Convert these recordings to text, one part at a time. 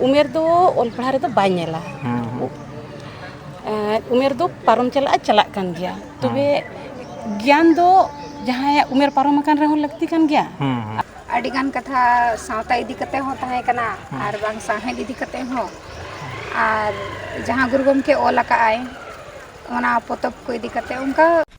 ᱩᱢᱮᱨ ᱫᱚ ᱚᱞ ᱯᱟᱲᱦᱟᱣ ᱨᱮᱫᱚ ᱵᱟᱭ ᱧᱮᱞᱟ ᱩᱢᱮᱨ ᱫᱚ ᱯᱟᱨᱚᱢ ᱪᱟᱞᱟᱜᱼᱟ ᱪᱟᱞᱟᱜ ᱠᱟᱱ ᱜᱮᱭᱟ ᱛᱚᱵᱮ ᱜᱮᱭᱟᱱ ᱫᱚ ᱡᱟᱦᱟᱸᱭᱟᱜ ᱩᱢᱮᱨ ᱯᱟᱨᱚᱢ ᱟᱠᱟᱱ ᱨᱮᱦᱚᱸ ᱞᱟᱹᱠᱛᱤ ᱠᱟᱱ ᱜᱮᱭᱟ ᱟᱹᱰᱤ ᱜᱟᱱ ᱠᱟᱛᱷᱟ ᱥᱟᱶᱛᱟ ᱤᱫᱤ ᱠᱟᱛᱮ ᱦᱚᱸ ᱛᱟᱦᱮᱸ ᱠᱟᱱᱟ ᱟᱨ ᱵᱟᱝ ᱥᱟᱶᱦᱮᱫ ᱤᱫᱤ ᱠᱟᱛᱮ ᱦᱚᱸ ᱟᱨ ᱡᱟᱦᱟᱸ ᱜᱩᱨᱩ ᱜᱚᱢᱠᱮ ᱚᱞ ᱟᱠᱟᱫ ᱟᱭ ᱚᱱᱟ ᱯᱚᱛᱚᱵ ᱠᱚ ᱤᱫᱤ ᱠᱟᱛᱮ ᱚᱱᱠᱟ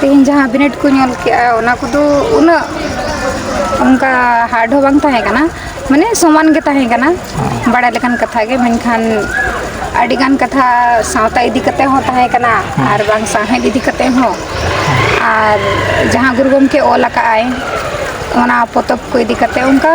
ᱛᱮᱦᱮᱧ ᱡᱟᱦᱟᱸ ᱵᱤᱱᱤᱰ ᱠᱚ ᱧᱮᱞ ᱠᱮᱜᱼᱟ ᱚᱱᱟ ᱠᱚᱫᱚ ᱩᱱᱟᱹᱜ ᱚᱱᱠᱟ ᱦᱟᱨᱰ ᱦᱚᱸ ᱵᱟᱝ ᱛᱟᱦᱮᱸ ᱠᱟᱱᱟ ᱢᱟᱱᱮ ᱥᱚᱢᱟᱱ ᱜᱮ ᱛᱟᱦᱮᱸ ᱠᱟᱱᱟ ᱵᱟᱲᱟᱭ ᱞᱮᱠᱟᱱ ᱠᱟᱛᱷᱟ ᱜᱮ ᱢᱮᱱᱠᱷᱟᱱ ᱟᱹᱰᱤ ᱜᱟᱱ ᱠᱟᱛᱷᱟ ᱥᱟᱶᱛᱟ ᱤᱫᱤ ᱠᱟᱛᱮ ᱦᱚᱸ ᱛᱟᱦᱮᱸ ᱠᱟᱱᱟ ᱟᱨ ᱵᱟᱝ ᱥᱟᱶᱦᱮᱫ ᱤᱫᱤ ᱠᱟᱛᱮ ᱦᱚᱸ ᱟᱨ ᱡᱟᱦᱟᱸ ᱜᱩᱨᱩ ᱜᱚᱢᱠᱮ ᱚᱞ ᱟᱠᱟᱫ ᱟᱭ ᱚᱱᱟ ᱯᱚᱛᱚᱵ ᱠᱚ ᱤᱫᱤ ᱠᱟᱛᱮ ᱚᱱᱠᱟ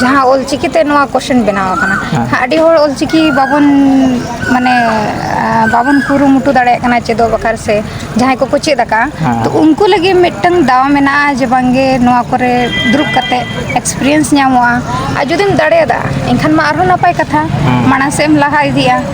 ᱡᱟᱦᱟᱸ ᱚᱞᱪᱤᱠᱤ ᱛᱮ ᱱᱚᱣᱟ ᱠᱚᱥᱪᱮᱱ ᱵᱮᱱᱟᱣ ᱟᱠᱟᱱᱟ ᱟᱹᱰᱤ ᱦᱚᱲ ᱚᱞᱪᱤᱠᱤ ᱵᱟᱵᱚᱱ ᱢᱟᱱᱮ ᱵᱟᱵᱚᱱ ᱠᱩᱨᱩᱢᱩᱴᱩ ᱫᱟᱲᱮᱭᱟᱜ ᱠᱟᱱᱟ ᱪᱮᱫᱚᱜ ᱵᱟᱠᱷᱨᱟ ᱥᱮ ᱡᱟᱦᱟᱸᱭ ᱠᱚᱠᱚ ᱪᱮᱫ ᱟᱠᱟᱫᱼᱟ ᱛᱚ ᱩᱱᱠᱩ ᱞᱟᱹᱜᱤᱫ ᱢᱤᱫᱴᱟᱝ ᱫᱟᱣ ᱢᱮᱱᱟᱜᱼᱟ ᱡᱮ ᱵᱟᱝᱜᱮ ᱱᱚᱣᱟ ᱠᱚᱨᱮ ᱫᱩᱲᱩᱵ ᱠᱟᱛᱮᱫ ᱮᱠᱥᱯᱨᱤᱭᱮᱱᱥ ᱧᱟᱢᱚᱜᱼᱟ ᱟᱨ ᱡᱩᱫᱤᱢ ᱫᱟᱲᱮᱭᱟᱫᱟ ᱮᱱᱠᱷᱟᱱ ᱢᱟ ᱟᱨᱦᱚᱸ ᱱᱟᱯᱟᱭ ᱠᱟᱛᱷᱟ ᱢᱟᱲᱟᱝ ᱥᱮᱫ ᱮᱢ ᱞᱟᱦᱟ ᱤᱫᱤᱜᱼᱟ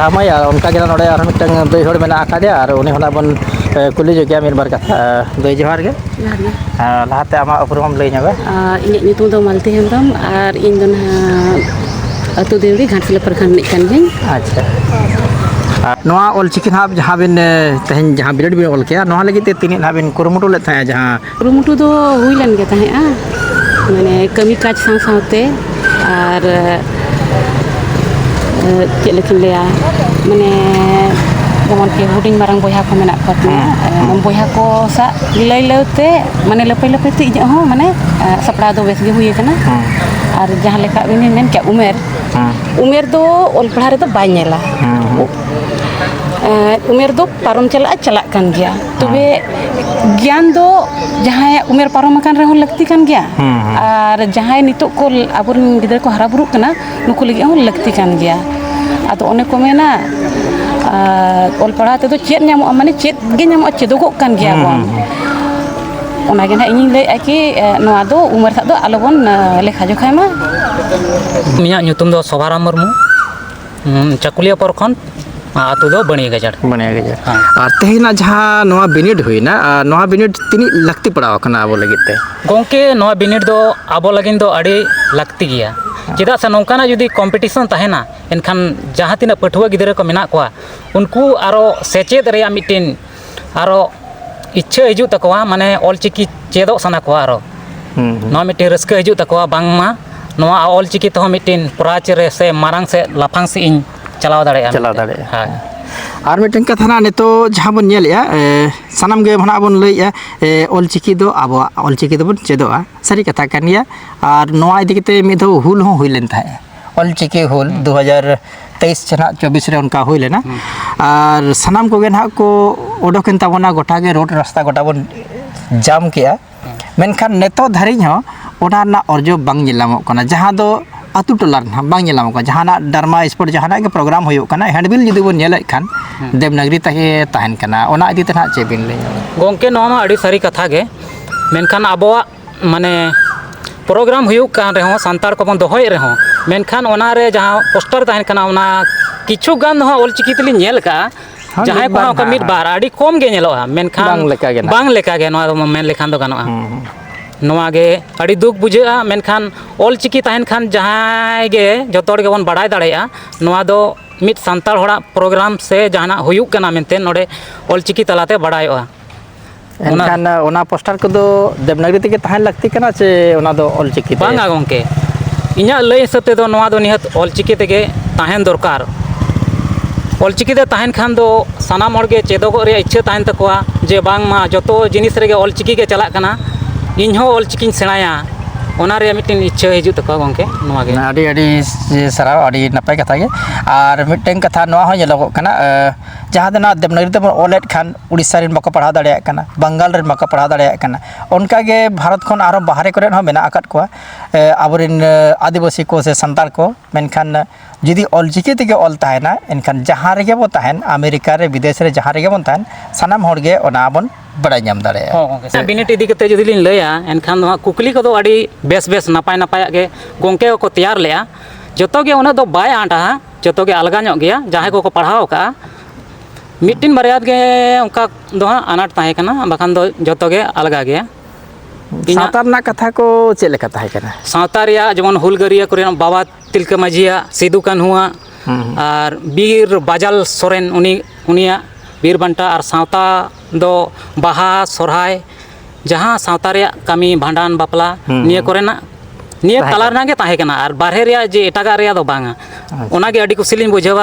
ᱨᱟᱢᱟᱭᱟ ᱚᱱᱠᱟ ᱜᱮ ᱱᱚᱰᱮ ᱟᱨᱦᱚᱸ ᱢᱤᱫᱴᱟᱝ ᱫᱟᱹᱭ ᱦᱚᱲ ᱢᱮᱱᱟᱜ ᱟᱠᱟᱫᱮᱭᱟ ᱟᱨ ᱩᱱᱤ ᱦᱚᱸ ᱵᱚᱱ ᱠᱩᱞᱤ ᱡᱚᱜᱮᱭᱟ ᱢᱤᱫ ᱵᱟᱨ ᱠᱟᱛᱷᱟ ᱫᱟᱹᱭ ᱡᱚᱦᱟᱨ ᱜᱮ ᱡᱚᱦᱟᱨ ᱜᱮ ᱞᱟᱦᱟᱛᱮ ᱟᱢᱟᱜ ᱩᱯᱨᱩᱢ ᱞᱟᱹᱭ ᱧᱚᱜᱟ ᱤᱧᱟᱹᱜ ᱧᱩᱛᱩᱢ ᱫᱚ ᱢᱟᱞᱛᱤ ᱦᱮᱢᱵᱨᱚᱢ ᱟᱨ ᱤᱧ ᱫᱚ ᱱᱟᱦᱟᱜ ᱟᱹᱛᱩ ᱫᱮᱣᱲᱤ ᱜᱷᱟᱴᱥᱤᱞᱟᱹ ᱯᱨᱚᱠᱷᱚᱸᱰ ᱨᱤᱱᱤᱡ ᱠᱟᱱ ᱜᱤᱭᱟᱹᱧ ᱟᱪᱪᱷᱟ ᱟᱨ ᱱᱚᱣᱟ ᱚᱞᱪᱤᱠᱤ ᱱᱟᱦᱟᱜ ᱡᱟᱦᱟᱸ ᱵᱤᱱ ᱛᱮᱦᱮᱧ ᱡᱟᱦᱟᱸ ᱵᱤᱱᱤᱰ ᱵᱤᱱ ᱚᱞ ᱠᱮᱜᱼᱟ ᱱᱚᱣᱟ ᱞᱟᱹᱜᱤᱫ ᱛᱮ ᱛᱤᱱᱟᱹᱜ ᱱᱟᱦᱟᱜ ᱵᱤᱱ ᱠᱩᱨᱩᱢᱩᱴᱩ ᱞᱮᱫ ᱛᱟᱦᱮᱸᱫ ᱡᱟᱦᱟᱸ ᱠᱩᱨᱩᱢᱩᱴᱩ ᱫᱚ ᱦᱩᱭ ᱞᱮᱱ ᱜᱮ ᱛᱟᱦᱮᱸᱫᱼᱟ ᱢᱟᱱᱮ ᱠᱟᱹᱢᱤ ᱠᱟᱡᱽ ᱥᱟᱶ ᱥᱟᱶᱛᱮ ᱟᱨ ᱪᱮᱫ ᱞᱮᱠᱟᱧ ᱞᱟᱹᱭᱟ ᱢᱟᱱᱮ ᱡᱮᱢᱚᱱ ᱠᱤ ᱦᱩᱰᱤᱧ ᱢᱟᱨᱟᱝ ᱵᱚᱭᱦᱟ ᱠᱚ ᱢᱮᱱᱟᱜ ᱠᱚ ᱛᱤᱧᱟ ᱵᱚᱭᱦᱟ ᱠᱚ ᱥᱟᱜ ᱞᱟᱹᱭ ᱞᱟᱹᱭ ᱛᱮ ᱢᱟᱱᱮ ᱞᱟᱹᱯᱟᱹᱭ ᱞᱟᱹᱯᱟᱹᱭ ᱛᱮ ᱤᱧᱟᱹᱜ ᱦᱚᱸ ᱢᱟᱱᱮ ᱥᱟᱯᱲᱟᱣ ᱫᱚ ᱵᱮᱥ ᱜᱮ ᱦᱩᱭ ᱟᱠᱟᱱᱟ ᱟᱨ ᱡᱟᱦᱟᱸ ᱞᱮᱠᱟ ᱩᱱᱤ ᱢᱮᱱ ᱠᱮᱫ ᱩᱢᱮᱨ ᱩᱢᱮᱨ ᱫᱚ ᱚᱞ ᱯᱟᱲᱦᱟᱣ ᱨᱮᱫᱚ ᱵᱟᱭ ᱧᱮᱞᱟ ᱩᱢᱮᱨ ᱫᱚ ᱯᱟᱨᱚᱢ ᱪᱟᱞᱟᱜᱼᱟ ᱪᱟᱞᱟᱜ ᱠᱟᱱ ᱜᱮᱭᱟ ᱛᱚᱵᱮ ᱜᱮᱭᱟᱱ ᱫᱚ ᱡᱟᱦᱟᱸᱭᱟᱜ ᱩᱢᱮᱨ ᱯᱟᱨᱚᱢ ᱟᱠᱟᱱ ᱨᱮᱦᱚᱸ ᱞᱟᱹᱠᱛᱤ ᱠᱟᱱ ᱜᱮᱭᱟ ᱟᱨ ᱡᱟᱦᱟᱸᱭ ᱱᱤᱛᱚᱜ ᱠᱚ ᱟᱵᱚᱨᱮᱱ ᱜᱤᱫᱽᱨᱟᱹ ᱠᱚ ᱦᱟᱨᱟ ᱵᱩᱨᱩᱜ ᱠᱟᱱᱟ ᱱᱩᱠᱩ ᱞᱟᱹᱜᱤᱫ ᱦᱚᱸ ᱞᱟᱹᱠᱛᱤ ᱠᱟᱱ ᱜᱮᱭᱟ ᱟᱫᱚ ᱚᱱᱮ ᱠᱚ ᱢᱮᱱᱟ ᱚᱞ ᱯᱟᱲᱦᱟᱣ ᱛᱮᱫᱚ ᱪᱮᱫ ᱧᱟᱢᱚᱜᱼᱟ ᱢᱟᱱᱮ ᱪᱮᱫ ᱜᱮ ᱧᱟᱢᱚᱜᱼᱟ ᱪᱮᱫᱚᱜᱚᱜ ᱠᱟᱱ ᱜᱮᱭᱟ ᱵᱚᱱ ᱚᱱᱟᱜᱮ ᱱᱟᱦᱟᱜ ᱤᱧᱤᱧ ᱞᱟᱹᱭᱮᱫᱼᱟ ᱠᱤ ᱱᱚᱣᱟ ᱫᱚ ᱩᱢᱮᱨ ᱥᱟᱜ ᱫᱚ ᱟᱞᱚ ᱵᱚᱱ ᱞᱮᱠᱷᱟ ᱡᱚᱠᱷᱟᱭ ᱢᱟ ᱤᱧᱟᱹᱜ ᱧᱩᱛᱩᱢ ᱫᱚ ᱥᱚᱵᱷᱟᱨᱟᱢ ᱢᱩᱨᱢᱩ ᱪᱟᱹᱠᱩᱞᱤᱭᱟᱹ ᱯᱚᱨᱠᱷᱚᱸᱰ ᱟᱛᱳ ᱫᱚ ᱵᱟᱹᱱᱤᱭᱟᱹ ᱜᱟᱡᱟᱲ ᱵᱟᱹᱱᱤᱭᱟᱹ ᱜᱟᱡᱟᱲ ᱦᱮᱸ ᱟᱨ ᱛᱮᱦᱮᱧᱟᱜ ᱡᱟᱦᱟᱸ ᱱᱚᱣᱟ ᱵᱤᱱᱤᱰ ᱦᱩᱭᱱᱟ ᱟᱨ ᱱᱚᱣᱟ ᱵᱤᱱᱤᱰ ᱛᱤᱱᱟᱹᱜ ᱞᱟᱹᱠᱛᱤ ᱯᱟᱲᱟᱣ ᱟᱠᱟᱱᱟ ᱟᱵᱚ ᱞᱟᱹᱜᱤᱫ ᱛᱮ ᱜᱚᱢᱠᱮ ᱱᱚᱣᱟ ᱵᱤᱱᱤᱰ ᱫᱚ ᱟᱵᱚ ᱞᱟᱹᱜᱤᱫ ᱫᱚ ᱟᱹᱰᱤ ᱞᱟᱹᱠᱛᱤ ᱜᱮᱭᱟ ᱪᱮᱫᱟᱜ ᱥᱮ ᱱᱚᱝᱠᱟᱱᱟᱜ ᱡᱩᱫᱤ ᱠᱚᱢᱯᱤᱴᱤᱥᱚᱱ ᱛᱟᱦᱮᱱᱟ ᱮᱱᱠᱷᱟᱱ ᱡᱟᱦᱟᱸ ᱛᱤᱱᱟᱹᱜ ᱯᱟᱹᱴᱷᱩᱣᱟᱹ ᱜᱤᱫᱽᱨᱟᱹ ᱠᱚ ᱢᱮᱱᱟᱜ ᱠᱚᱣᱟ ᱩᱱᱠᱩ ᱟᱨᱚ ᱥᱮᱪᱮᱫ ᱨᱮᱭᱟᱜ ᱢᱤᱫᱴᱤᱱ ᱟᱨᱚ ᱤᱪᱪᱷᱟᱹ ᱦᱤᱡᱩᱜ ᱛᱟᱠᱚᱣᱟ ᱢᱟᱱᱮ ᱚᱞ ᱪᱤᱠᱤ ᱪᱮᱫᱚᱜ ᱥᱟᱱᱟ ᱠᱚᱣᱟ ᱟᱨᱚ ᱱᱚᱣᱟ ᱢᱤᱫᱴᱮᱱ ᱨᱟᱹᱥᱠᱟᱹ ᱦᱤᱡᱩᱜ ᱛᱟᱠᱚᱣᱟ ᱵᱟᱝᱢᱟ ᱱᱚᱣᱟ ᱚᱞ ᱪᱤᱠᱤ ᱛᱮᱦᱚᱸ ᱢᱤᱫᱴᱮᱱ ᱯᱨᱟᱪ ᱨᱮ ᱥᱮ ᱢᱟᱨᱟᱝ ᱥᱮᱫ ᱞᱟᱯᱷᱟᱝ ᱥᱮᱫ ᱤᱧ ᱪᱟᱞᱟᱣ ᱫᱟᱲᱮᱭᱟᱜᱼᱟ ᱪᱟᱞᱟᱣ ᱫᱟᱲᱮᱭᱟᱜᱼᱟ ᱦᱳᱭ ᱟᱨ ᱢᱤᱫᱴᱮᱱ ᱠᱟᱛᱷᱟ ᱦᱟᱸᱜ ᱱᱤᱛᱚᱜ ᱡᱟᱦᱟᱸ ᱵᱚᱱ ᱧᱮᱞᱮᱜᱼᱟ ᱥᱟᱱᱟᱢ ᱜᱮ ᱱᱟᱦᱟᱜ ᱵᱚᱱ ᱞᱟᱹᱭᱮᱜᱼᱟ ᱚᱞ ᱪᱤᱠᱤ ᱫᱚ ᱟᱵᱚᱣᱟᱜ ᱚᱞ ᱪᱤᱠᱤ ᱫᱚᱵᱚᱱ ᱪᱮᱫᱚᱜᱼᱟ ᱥᱟᱹᱨᱤ ᱠᱟᱛᱷᱟ ᱠᱟᱱ ᱜᱮᱭᱟ ᱟᱨ ᱱᱚᱣᱟ ᱤᱫᱤ ᱠᱟᱛᱮᱫ ᱢᱤᱫ ᱫᱷᱟᱣ ᱦᱩᱞ ᱦᱚᱸ ᱦᱩᱭ ᱞᱮᱱ ᱛᱟᱦᱮᱸᱫᱼᱟ ᱚᱞ ᱪᱤᱠᱤ ᱦᱩᱞ ᱫᱩ ᱦᱟᱡᱟᱨ ᱛᱮᱭᱤᱥ ᱪᱟᱞᱟᱜ ᱪᱚᱵᱵᱤᱥ ᱨᱮ ᱚᱱᱠᱟ ᱦᱩᱭ ᱞᱮᱱᱟ ᱟᱨ ᱥᱟᱱᱟᱢ ᱠᱚᱜᱮ ᱱᱟᱦᱟᱜ ᱠᱚ ᱚᱰᱚᱠᱮᱱ ᱛᱟᱵᱚᱱᱟ ᱜᱚᱴᱟ ᱜᱮ ᱨᱳᱰ ᱨᱟᱥᱛᱟ ᱜᱚᱴᱟ ᱵᱚᱱ ᱡᱟᱢ ᱠᱮᱜᱼᱟ ᱢᱮᱱᱠᱷᱟᱱ ᱱᱤᱛᱚᱜ ᱫᱷᱟᱹᱨᱤᱡ ᱦᱚᱸ ᱚᱱᱟ ᱨᱮᱱᱟᱜ ᱚᱨᱡᱚ ᱵᱟᱝ ᱧᱮᱞ ᱧᱟᱢᱚᱜ ᱠᱟᱱᱟ ᱡᱟᱦᱟᱸ ᱫᱚ ᱟᱛᱳ ᱴᱚᱞᱟ ᱨᱮ ᱱᱟᱦᱟᱜ ᱵᱟᱝ ᱧᱮᱞ ᱧᱟᱢᱚᱜ ᱠᱟᱱᱟ ᱡᱟᱦᱟᱱᱟᱜ ᱰᱨᱟᱢᱟ ᱥᱯᱳᱨᱴ ᱡᱟᱦᱟᱱᱟᱜ ᱜᱮ ᱯᱨᱳᱜᱨᱟᱢ ᱦᱩᱭᱩᱜ ᱠᱟᱱᱟ ᱦᱮᱱᱰᱵᱤᱞ ᱡᱩᱫᱤ ᱵᱚᱱ ᱧᱮᱞᱮᱫ ᱠᱷᱟᱱ ᱫᱮᱵᱽᱱᱟᱜᱽᱨᱤ ᱛᱮᱜᱮ ᱛᱟᱦᱮᱱ ᱠᱟᱱᱟ ᱚᱱᱟ ᱤᱫᱤ ᱛᱮ ᱱᱟᱦᱟᱜ ᱪᱮᱫ ᱵᱤᱱ ᱞᱟᱹᱭᱟ ᱜᱚᱢᱠᱮ ᱱᱚᱣᱟ ᱢᱟ ᱟᱹᱰᱤ ᱥᱟᱹᱨᱤ ᱠᱟᱛᱷᱟ ᱜᱮ ᱢᱮᱱᱠᱷᱟᱱ ᱟᱵᱚᱣᱟᱜ ᱢᱟᱱᱮ ᱯᱨᱳᱜᱨᱟᱢ ᱦᱩᱭᱩᱜ ᱠᱟᱱ ᱨᱮᱦᱚᱸ ᱥᱟᱱᱛᱟᱲ ᱠᱚᱵᱚᱱ ᱫᱚᱦᱚᱭᱮᱫ ᱨᱮᱦᱚᱸ ᱢᱮᱱᱠᱷᱟᱱ ᱚᱱᱟᱨᱮ ᱡᱟᱦᱟᱸ ᱯᱳᱥᱴᱟᱨ ᱛᱟᱦᱮᱱ ᱠᱟᱱᱟ ᱚᱱᱟ ᱠᱤᱪᱷᱩ ᱜᱟᱱ ᱫᱚ ᱦᱟᱸᱜ ᱚᱞᱪᱤᱠᱤ ᱛᱮᱞᱤᱧ ᱧᱮᱞ ᱠᱟᱜᱼᱟ ᱡᱟᱦᱟᱸᱭ ᱠᱚ ᱚᱱᱠᱟ ᱢᱤᱫ ᱵᱟᱨ ᱟᱹᱰᱤ ᱠᱚᱢ ᱜᱮ ᱧᱮᱞᱚᱜᱼᱟ ᱢᱮᱱᱠᱷᱟᱱ ᱵᱟᱝ ᱞᱮᱠᱟᱜᱮ ᱱᱟᱦᱟᱜ ᱵᱟᱝ ᱞᱮᱠᱟᱜᱮ ᱱᱚᱣᱟ ᱫᱚ ᱢᱮᱱ ᱞᱮᱠᱷᱟᱱ ᱫᱚ ᱜᱟᱱᱚᱜᱼᱟ ᱱᱚᱣᱟᱜᱮ ᱟᱹᱰᱤ ᱫᱩᱠ ᱵᱩᱡᱷᱟᱹᱜᱼᱟ ᱢᱮᱱᱠᱷᱟᱱ ᱚᱞᱪᱤᱠᱤ ᱛᱟᱦᱮᱱ ᱠᱷᱟᱱ ᱡᱟᱦᱟᱸᱭ ᱜᱮ ᱡᱚᱛᱚ ᱦᱚᱲ ᱜᱮᱵᱚᱱ ᱵᱟᱲᱟᱭ ᱫᱟᱲᱮᱭᱟᱜᱼᱟ ᱱᱚᱣᱟ ᱫᱚ ᱢᱤᱫ ᱥᱟᱱᱛᱟᱲ ᱦᱚᱲᱟᱜ ᱯᱨᱳᱜᱨᱟᱢ ᱥᱮ ᱡᱟᱦᱟᱱᱟᱜ ᱦᱩᱭᱩᱜ ᱠᱟᱱᱟ ᱢᱮᱱᱛᱮ ᱱᱚᱰᱮ ᱚᱞᱪᱤᱠᱤ ᱛᱟᱞᱟᱛᱮ ᱵᱟᱲᱟᱭᱚᱜᱼᱟ ᱚᱱᱟ- ᱮᱱᱠᱷᱟᱱ ᱚᱱᱟ ᱯᱳᱥᱴᱟᱨ ᱠᱚᱫᱚ ᱫᱮᱵᱽᱱᱟᱜᱚᱨᱤ ᱛᱮᱜᱮ ᱛᱟᱦᱮᱱ ᱞᱟᱹᱠᱛᱤ ᱠᱟᱱᱟ ᱪᱮ ᱚᱱᱟ ᱫᱚ ᱚᱞ ᱪᱤᱠᱤ ᱛᱮ? ᱵᱟᱝᱟ ᱜᱚᱢᱠᱮ ᱤᱧᱟᱹᱜ ᱞᱟᱹᱭ ᱦᱤᱥᱟᱹᱵ ᱛᱮᱫᱚ ᱱᱚᱣᱟ ᱫᱚ ᱱᱤᱦᱟᱹᱛ ᱚᱞᱪᱤᱠᱤ ᱛᱮᱜᱮ ᱛᱟᱦᱮᱱ ᱫᱚᱨᱠᱟᱨ ᱚᱞᱪᱤᱠᱤ ᱛᱮ ᱛᱟᱦᱮᱱ ᱠᱷᱟᱱ ᱫᱚ ᱥᱟᱱᱟᱢ ᱦᱚᱲᱜᱮ ᱪᱮᱫᱚᱜᱚᱜ ᱨᱮᱭᱟᱜ ᱤᱪᱪᱷᱟᱹ ᱛᱟᱦᱮᱱ ᱛᱟᱠᱚᱣᱟ ᱡᱮ ᱵᱟᱝᱢᱟ ᱡᱚᱛᱚ ᱡᱤᱱᱤᱥ ᱨᱮᱜᱮ ᱚᱞᱪᱤᱠᱤ ᱜᱮ ᱪᱟᱞᱟᱜ ᱠᱟᱱᱟ ᱤᱧᱦᱚᱸ ᱚᱞᱪᱤᱠᱤᱧ ᱥᱮᱬᱟᱭᱟ ᱚᱱᱟ ᱨᱮᱭᱟᱜ ᱢᱤᱫᱴᱮᱱ ᱤᱪᱪᱷᱟᱹ ᱦᱤᱡᱩᱜ ᱛᱟᱠᱚᱣᱟ ᱜᱚᱢᱠᱮ ᱱᱚᱣᱟ ᱜᱮ ᱟᱹᱰᱤ ᱟᱹᱰᱤ ᱥᱟᱨᱦᱟᱣ ᱟᱹᱰᱤ ᱱᱟᱯᱟᱭ ᱠᱟᱛᱷᱟ ᱜᱮ ᱟᱨ ᱢᱤᱫᱴᱮᱱ ᱠᱟᱛᱷᱟ ᱱᱚᱣᱟ ᱦᱚᱸ ᱧᱮᱞᱚᱜᱚᱜ ᱠᱟᱱᱟ ᱡᱟᱦᱟᱸ ᱫᱚ ᱱᱟᱦᱟᱜ ᱫᱮᱵᱽᱱᱟᱜᱚᱨᱤ ᱛᱮᱵᱚᱱ ᱚᱞᱮᱫ ᱠᱷᱟᱱ ᱩᱲᱤᱥᱥᱟ ᱨᱮᱱ ᱵᱟᱠᱚ ᱯᱟᱲᱦᱟᱣ ᱫᱟᱲᱮᱭᱟᱜ ᱠᱟᱱᱟ ᱵᱟᱝᱜᱟᱞ ᱨᱮᱱ ᱵᱟᱠᱚ ᱯᱟᱲᱦᱟᱣ ᱫᱟᱲᱮᱭᱟᱜ ᱠᱟᱱᱟ ᱚᱱᱠᱟᱜᱮ ᱵᱷᱟᱨᱚᱛ ᱠᱷᱚᱱ ᱟᱨᱚ ᱵᱟᱦᱨᱮ ᱠᱚᱨᱮᱜ ᱦᱚᱸ ᱢᱮᱱᱟᱜ ᱟᱠᱟᱫ ᱠᱚᱣᱟ ᱟᱵᱚ ᱨᱮᱱ ᱟᱹᱫᱤᱵᱟᱹᱥᱤ ᱠᱚ ᱥᱮ ᱥᱟᱱᱛᱟᱲ ᱠᱚ ᱢᱮᱱᱠᱷᱟᱱ ᱡᱩᱫᱤ ᱚᱞ ᱪᱤᱠᱤ ᱛᱮᱜᱮ ᱚᱞ ᱛᱟᱦᱮᱱᱟ ᱮᱱᱠᱷᱟᱱ ᱡᱟᱦᱟᱸ ᱨᱮᱜᱮ ᱵᱚᱱ ᱛᱟᱦᱮᱱ ᱟᱢᱮᱨᱤᱠᱟ ᱨᱮ ᱵᱤᱫᱮᱥ ᱨᱮ ᱡᱟᱦᱟᱸ ᱨᱮᱜᱮ ᱵᱚᱱ ᱛᱟᱦᱮᱱ ᱥᱟᱱᱟᱢ ᱦᱚᱲᱜᱮ ᱚᱱᱟ ᱵᱚᱱ ᱵᱟᱲᱟᱭ ᱧᱟᱢ ᱫᱟᱲᱮᱭᱟᱜᱼᱟ ᱦᱚᱸ ᱜᱚᱢᱠᱮ ᱥᱮ ᱵᱤᱱᱤᱰ ᱤᱫᱤ ᱠᱟᱛᱮ ᱡᱩᱫᱤ ᱞᱤᱧ ᱞᱟᱹᱭᱟ ᱮᱱᱠᱷᱟᱱ ᱫᱚ ᱦᱟᱸᱜ ᱠᱩᱠᱞᱤ ᱠᱚᱫᱚ ᱟᱹᱰᱤ ᱵᱮᱥ ᱵᱮᱥ ᱱᱟᱯᱟᱭ ᱱᱟᱯᱟᱭᱟᱜ ᱜᱮ ᱜᱚᱢᱠᱮ ᱠᱚᱠᱚ ᱛᱮᱭᱟᱨ ᱞᱮᱜᱼᱟ ᱡᱚᱛᱚᱜᱮ ᱩᱱᱟᱹᱜ ᱫᱚ ᱵᱟᱭ ᱟᱸᱴᱟ ᱡᱚᱛᱚᱜᱮ ᱟᱞᱜᱟ ᱧᱚᱜ ᱜᱮᱭᱟ ᱡᱟᱦᱟᱸᱭ ᱠᱚᱠᱚ ᱯᱟᱲᱦᱟᱣ ᱟᱠᱟᱫᱼᱟ ᱢᱤᱫᱴᱤᱱ ᱵᱟᱨᱭᱟ ᱜᱮ ᱚᱱᱠᱟ ᱫᱚ ᱦᱟᱸᱜ ᱟᱱᱟᱴ ᱛᱟᱦᱮᱸ ᱠᱟᱱᱟ ᱵᱟᱠᱷᱟᱱ ᱫᱚ ᱡᱚᱛᱚᱜᱮ ᱟᱞᱜᱟ ᱜᱮᱭᱟ ᱥᱟᱶᱛᱟ ᱨᱮᱱᱟᱜ ᱠᱟᱛᱷᱟ ᱠᱚ ᱪᱮᱫ ᱞᱮᱠᱟ ᱛᱟᱦᱮᱸ ᱠᱟᱱᱟ ᱥᱟᱶᱛᱟ ᱨᱮᱭᱟᱜ ᱡᱮᱢᱚᱱ ᱦᱩᱞᱜᱟᱹᱨᱤᱭᱟᱹ ᱠᱚᱨᱮᱱᱟᱜ ᱵᱟᱵᱟ ᱛᱤᱞᱠᱟᱹ ᱢᱟᱹᱡᱷᱤᱭᱟᱜ ᱥᱤᱫᱩ ᱠᱟᱹᱱᱦᱩᱣᱟᱜ ᱟᱨ ᱵᱤᱨ ᱵᱟᱡᱟᱞ ᱥᱚᱨᱮᱱ ᱩᱱᱤ ᱩᱱᱤᱭᱟᱜ ᱵᱤᱨ ᱵᱟᱱᱴᱟ ᱟᱨ ᱥᱟᱶᱛᱟ ᱫᱚ ᱵᱟᱦᱟ ᱥᱚᱦᱨᱟᱭ ᱡᱟᱦᱟᱸ ᱥᱟᱶᱛᱟ ᱨᱮᱭᱟᱜ ᱠᱟᱹᱢᱤ ᱵᱷᱟᱸᱰᱟᱱ ᱵᱟᱯᱞᱟ ᱦᱩᱸ ᱱᱤᱭᱟᱹ ᱦᱩᱸ ᱠᱚᱨᱮᱱᱟᱜ ᱱᱤᱭᱟᱹ ᱛᱟᱦᱮᱸ ᱛᱟᱞᱟ ᱠᱟᱱᱟ ᱨᱮᱱᱟᱜ ᱜᱮ ᱛᱟᱦᱮᱸ ᱠᱟᱱᱟ ᱟᱨ ᱵᱟᱨᱦᱮ ᱨᱮᱭᱟᱜ ᱡᱮ ᱮᱴᱟᱜᱟᱜ ᱨᱮᱭᱟᱜ ᱫᱚ ᱵᱟᱝᱟ ᱟᱪᱪᱷᱟ ᱚᱱᱟᱜᱮ ᱟᱹᱰᱤ ᱠᱩᱥᱤ ᱞᱤᱧ ᱵᱩᱡᱷᱟᱹᱣᱟ